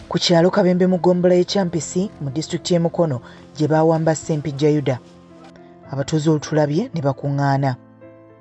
ku kyalo kabembe mu gombola y'ekyampisi mu disitulikiti y'e mukono gye baawamba ssempijja yuda abatuuze olutulabye ne bakuŋŋaana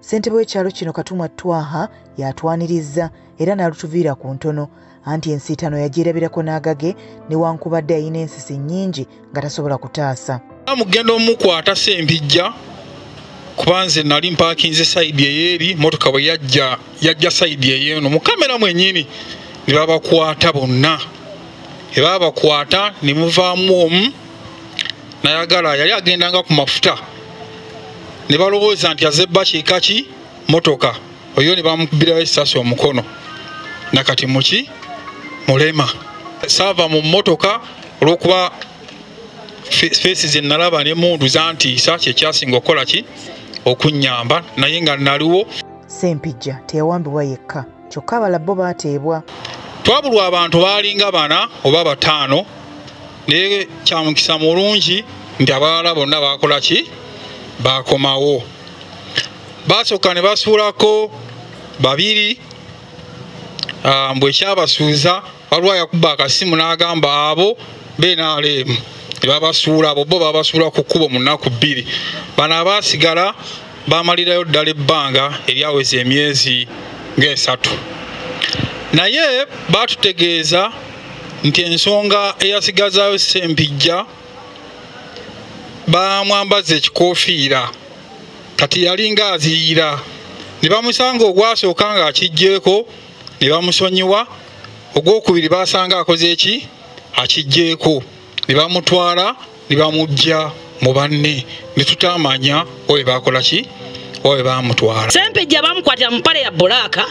ssentebe w'ekyalo kino katumwa twaha y'atwanirizza era n'alutuviira ku ntono anti ensiitano yagyerabirako n'agage newankubadde yalina ensisi nnyingi nga tasobola kutaasa mugenda omukwata sempijja kuba nze nali mpakinze saidi eyeeri motoka bwe yajja yajja saidi eyeeno mu kamera mwenyini ne babakwata bonna ebabakwata ne muvaamu omu nayagala yali agendanga ku mafuta ne balowooza nti azebba kiika ki motoka oyo ne bamukubirawo esasi omukono nakati muki mulema saava mu motoka olwokuba feesi zenalaba ne mundu zantiisa kyekyasinga okukola ki okunyamba naye nga naliwo sempijja teyawambibwa yekka kyokka abala bo baateebwa twabulwa abantu baalinga bana oba bataano naye kyamukisa mulungi nti abalala bonna baakola ki baakomawo baasooka ne basuulako babiri ah, mbwekyabasuuza waliwo yakuba akasimu n'agamba abo benaleemu tebabasuula abo bo babasuula ku kkubo mu nnaku bbiri bano abaasigala bamalirayo ddala ebbanga eryaweza emyezi ng'esatu naye baatutegeeza nti ensonga eyasigazayo sempijja bamwambaza ekikofiira kati yalinga aziyira ne bamusanga ogwasooka ng'akiggyeko ne bamusonyiwa ogwokubiri basanga akoze eki akijjeeko ne bamutwala ne bamujja mu banne ne tutamanya oyo bakola ki oyo bamutwala sempejja bamukwatira mu pale ya bulaaka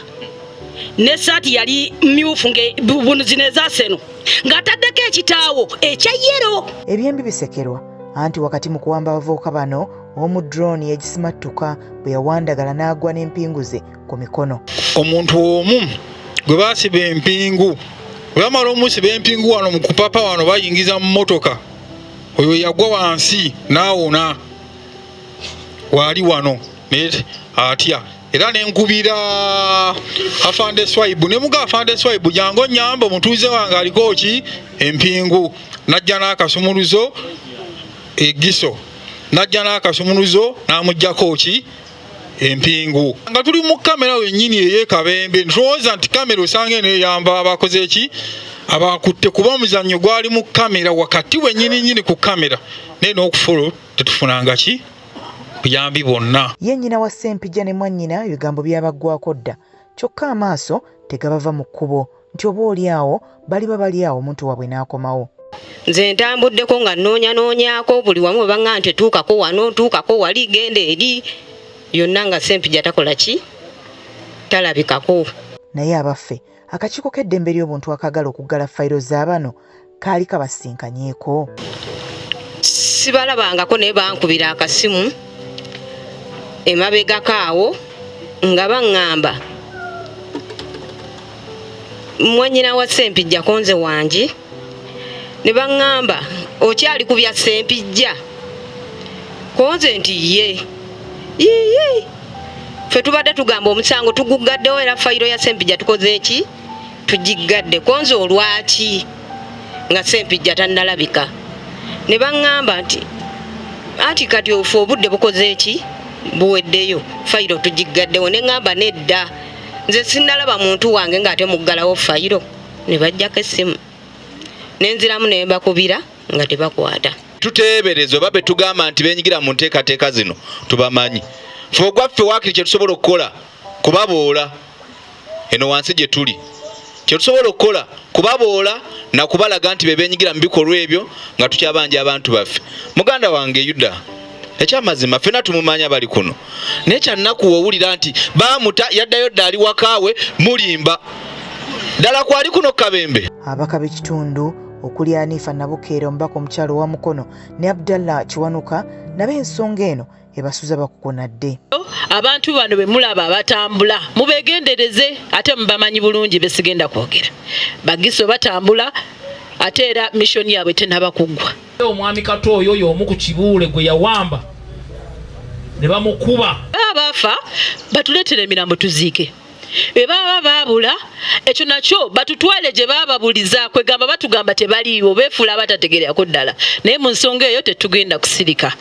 ne saati yali myufu ngebunuzino ezaseno ng'ataddeko ekitaawo ekya yero ebyembi bisekerwa anti wakati mu kuwamba abavubuka bano omu drone yagisimattuka bwe yawandagala n'agwa n'empingu ze ku mikono omuntu omu gwe basiba empingu bwe bamala omusiba empingu wano mu kupapa wano bayingiza mu motoka oyo yagwa wansi naawona waali wano naye atya era nenkubira afande swaibu nemuga afande swaibu jangu onyamba omutuuze wange aliko ki empingu najja n'akasumuluzo egiso najja n'akasumuluzo n'amugjako ki empingu nga tuli mu kamera wenyini eyekabembe ntulowooza nti kamera osanga eno eyamba abakoze eki abakutte kuba omuzannyo gwali mu kamera wakati wenyini nyini ku kamera naye n'okufolo tetufunanga ki buyambi bwonna ye nnyina wa ssempija ne mwannyina ebigambo byabaggwako dda kyokka amaaso tegabava mu kkubo nti oba oli awo baliba bali awo omuntu waabwe n'akomawo nze ntambuddeko nga nnoonya noonyako buli wamu we baŋŋa nti tuukako wano tuukako wali genda eri yonna nga sempija takola ki talabikako naye abaffe akakiiko k'eddembe ly'obuntu akaagala okuggala fayiro za bano kaali kabasisinkanyeeko sibalabangako naye bankubira akasimu emabegako awo nga baŋŋamba mwanyina wa sempijja konze wangi ne baŋŋamba okyali ku bya sempijja konze nti ye yiyi fe tubadde tugamba omusango tuguggaddewo era fayiro ya sempijja tukoze eki tugiggadde konze olwaki nga sempijja tannalabika ne baŋŋamba nti anti kati ofe obudde bukoze eki buweddeyo fayiro tugiggaddewo ne ŋŋamba nedda nze sinnalaba muntu wange ng'ate muggalawo fayiro ne bajjako essimu ne nziramu ne mbakubira nga tebakwata tuteebereza oba be tugamba nti benyigira mu nteekateeka zino tubamanyi fe ogwaffe waakiri kye tusobola okukola kubaboola eno wansi gye tuli kyetusobola okukola kubaboola nakubalaga nti bebenyigira mu bikolwa ebyo nga tukyabanja abantu baffe muganda wange yuda ekyamazima fena tumumanya bali kuno naye kyannaku wowulira nti bamuta yaddayo dda ali wakaawe mulimba ddala kwali kuno kabembe abaka b'ekitundu okuli anifa nabukeera omubaka omukyalo wa mukono ne abdallah kiwanuka nabo ensonga eno ebasuza bakukunadde abantu bano bemulaba batambula mubegendereze ate mubamanyi bulungi besigenda kwogera bagiso batambula ate era mishoni yaabwe tenaba kuggwa omwami kato oyo yomu ku kibuule gwe yawamba ne bamukuba baafa batuleetera emirambo tuziike be baba baabula ekyo nakyo batutwale gye baababuliza kwegamba batugamba tebaliiwo beefuula abatategererako ddala naye mu nsonga eyo tetugenda kusirika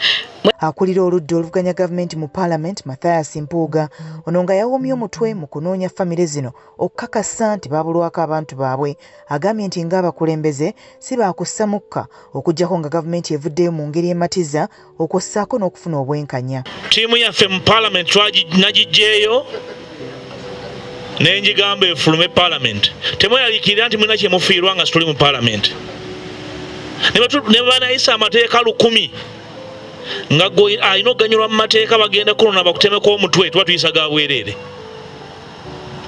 akulira oludda oluvuganya gavumenti mu paalamenti mathias mpuuga ono nga yawomye omutwe mu kunoonya famire zino okukakasa nti baabulwako abantu baabwe agambye nti ng'abakulembeze si baakussa mukka okuggyako nga gavumenti evuddeyo mu ngeri ematiza okwo ssaako n'okufuna obwenkanya ttiimu yaffe mu palamenti nagiggyeeyo nenjigamba efulume palamenti temweraliikirira nti mulina kyemufiirwa nga situli mu palamenti ne banayisa amateeka lukumi nga gwe alina okuganyulwa mu mateeka bagenda kunona bakutemeko omutwe tuba tuyisa ga bwereere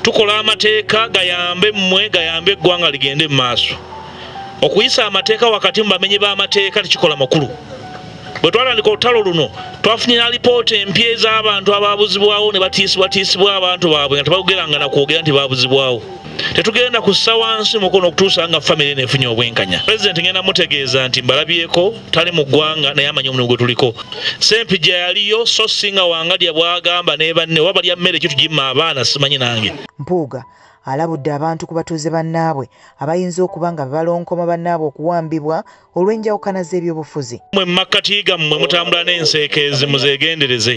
tukola amateeka gayambe mmwe gayambe eggwanga ligende mu maaso okuyisa amateeka wakati mu bamenyi b'amateeka tekikola makulu bwe twatandika olutalo luno twafunye na lipoota empya ez'abantu ababuzibwawo ne batiisibwatiisibwa abantu baabwe nga tebaogeranga na kwogera nti babuzibwawo tetugenda kussa wansi mukono okutuusa nga famiry neefunye obwenkanya pulezidenti ngenda mutegeeza nti mbalabyeko tali mu ggwanga naye amanyi omulimu gwe tuliko sempija yaliyo so singa wangalya bwagamba nebanne oba balya mmere ekyo tugimma abaana simanyi nange mpuuga alabudde abantu ku batuuze bannaabwe abayinza okuba nga bebalonkoma bannaabwe okuwambibwa olw'enjawukana z'ebyobufuzi mwe mumakkati gammwe mutambula n'enseekeezi muzeegendereze